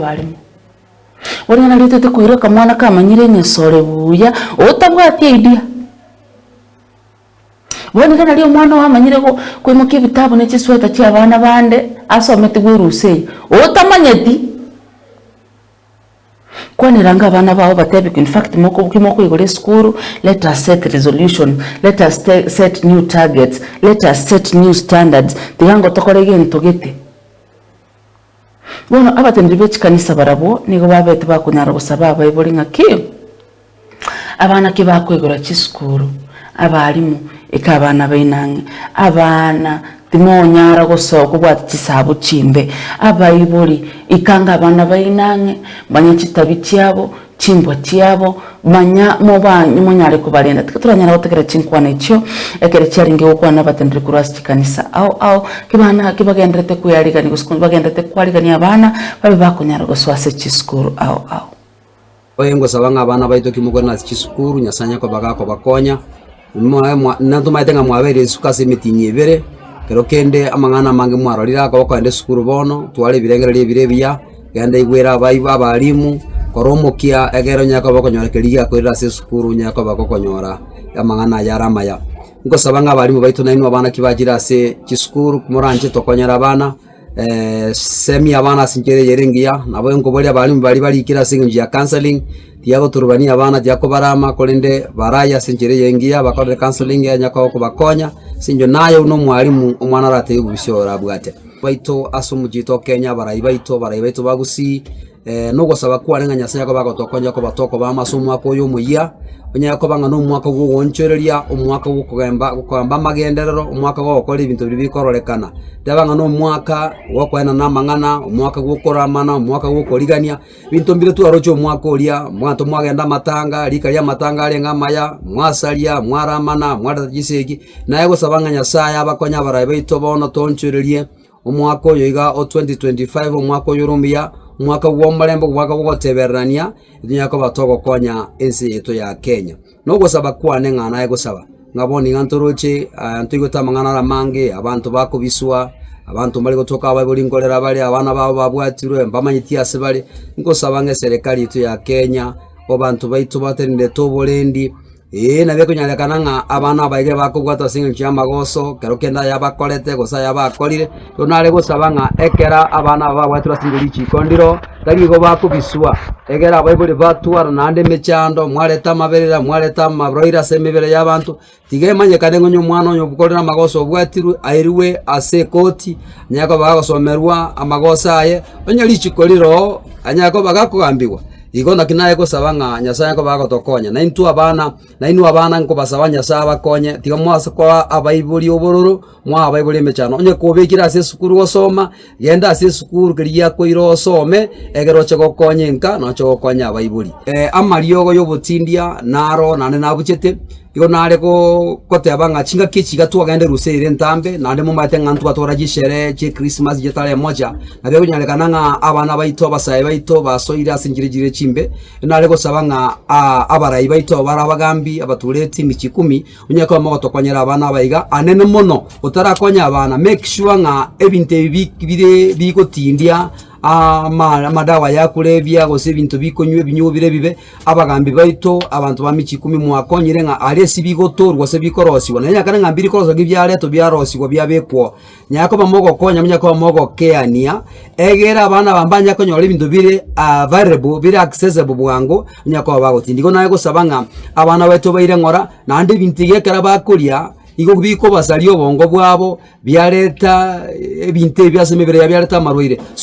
barimo. Boria narietete koira akamwana kamanyire enyesore buya, otabwati idea. Bono nigo nari omwana oyomanyire go- koimokia ebitabu ne chisweater chia abana bande, asometigwe erusia eyio, otamanyeti. Kwaneranga abana bao obatebi in fact moko ki mokoigora esukuru, let us set resolution, let us te- set new targets, let us set new standards, tiga ngo tokore gento gete. Bono abateneneri be chikanisa barabwo nigo babete bakonyara gosaba abaibori ng'a ki? Abana ki bakoigora chisukuru? Abalimu, ika abana baino ang'e. Abana, timonyara goso kobwati chisaabo chimbe. Abaibori, ikanga abana baino ang'e, manya chitabi chiabo, chimbwa chiabo, manya mobanye monyare kobarenda. Tiga toranyare gotegera chinkwana echio, ekero chiarenge gokwana abatendereri korwa ase chikanisa ao ao, kebana kebagenderete kwearigania gose bagenderete kwarigania abana babe bakonyara gosoa ase chisukuru ao ao. Oye ngosaba ng'a abana baito ki mokore nase chisukuru, Nyasae Nyakobaga akobakonya. Natomanyete ng'a mwabeire isiko ase emetinyi ebere, ekero kende amang'ana amange mwarorire aka okogenda esukuru bono, twara ebirengererio ebire ebiya, genda igwera abaibo abalimu, kora omokia egere onye koba okonyora keria giakorire ase esukuru onye koba gokonyora amang'ana aya are amaya. Nkosaba ng'a abalimu baito nainwe abana ki bachire ase chisukuru, moranche tokonyere abana. Eh, semi y'abana ase enchera eyere engiya, nabo enkoboria abaremi baria barikire ase engencho ya counselling, tiyagoturubania abana, tiyakobarama, korende baraye ase enchera eye engiya, bakorere counselling eye enyakoba kobakonya, ase eng'encho naye buna omwarimu omwana aratebie bobisia oyo orabwate. Baito ase omochie oito o Kenya, abarai baito, abarai baito ba Gusii. Nogosaba kwane ng'a Nyasae Yakobo agotokonya koba tokobama ase omwaka oyo omoyia, onyare koba ng'a nomwaka bw'ogoonchoreria, omwaka bw'okogamba bw'okogamba amagenderero, omwaka bw'ogokora ebinto biria bikororekana. Teba ng'a nomwaka bw'okoenana amang'ana, omwaka bw'okoramana, omwaka bw'okorigania, ebinto mbire twaroche omwaka oria, abanto mwagenda amatanga, rika ri'amatanga arenge amaya, mwasaria, mwaramana, mwareta chisegi, naye gosaba ng'a Nyasae abakonye abarai baito bono toonchorerie. Omwaka oyo iga o 2025, omwaka oyore omuya, omwaka bw'omorembe, omwaka bw'ogotebererania, nigo yakoba togokonya ense yaito ya Kenya. Na ogosaba kwane ng'a naye gosaba, ng'a bono iga ntoroche aa ntoigwete amang'ana are amange, abanto bakobiswa, abanto mbare gotoka abaibori nkorera bare, abana babo babwatirwe, mbamanyeti ase bare, nkosaba ng'a eserekari yaito ya Kenya, abanto baito batenenerete oborendi, Ee, na bikonyarekana ng'a abana abaige bakobwatwa ase engencho y'amagoso, kero kende ayabakorete, gose ayabakorire. Rero nare gosaba ng'a ekero abana aba babwatirwe ase richiko ndiro, tari igo bakobiswa, egera abaibori batwara naende emechando, mwareta amaberera, mwareta amaroiro ase emebere y'abanto, tiga emanyekane ng'a onye omwana oyo okorire amagoso obwatirwe, airwe ase ekoti, onye koba gagosomerwa amagoso aye, onye richiko rire oo, anyare koba gakogambigwa. Igo naki nare gosaba ng'a Nyasae akobe agotokonya, naintwe abana. Nainwe abana, nkobasaba Nyasae abakonye, tiga mwase koba abaibori obororo, mwaa abaibori emechando. Onye kobekire ase esukuru gosoma, genda ase esukuru keria giakoire osome, egere oche gokonya enka, na oche gokonya abaibori. Amariogo y'obotindia naro nare nabuchete. Igo nare goteba ng'a chingaki echi iga twagenda erusia eye ere entambe, naende momanyete ng'a ntwatwara chisere chi'Ekrismasi chitari mocha, nabia egonyarekana ng'a abana baito, abasae baito basoire ase enchera chire chimbe. Nare gosaba ng'a abarai baito aba bare abagambi abatureti emichie ikomi, onye koba mogotokonyera abana aba iga, anene mono otarakonya abana make sure ng'a ebinto ebi bi bire bigotindia amadawa ya korebia gose ebinto bikonywa ebinyuo bire ebibe, Abagaambi baito, abanto ba michie ikomi, mwakonyire ng'a aria ase bigotoorwa gose bikorosiwa, na enyakana ng'a mbirikoroswa ki biaretwa biarosigwa biabekwa oo. Nyare koba mogokonya, monyare koba mogokeania, egere abana aba mbanye konyora ebinto bire available, bire accessible bwango, onyare koba bagotinda. Igo naye gosaba ng'a abana baito baire ng'ora, naende ebinto ebi ekero bakoria, igo bikobasaria obongo bwabo, biareta ebinto ebi ase emebere yabo biareta amarwaire, so.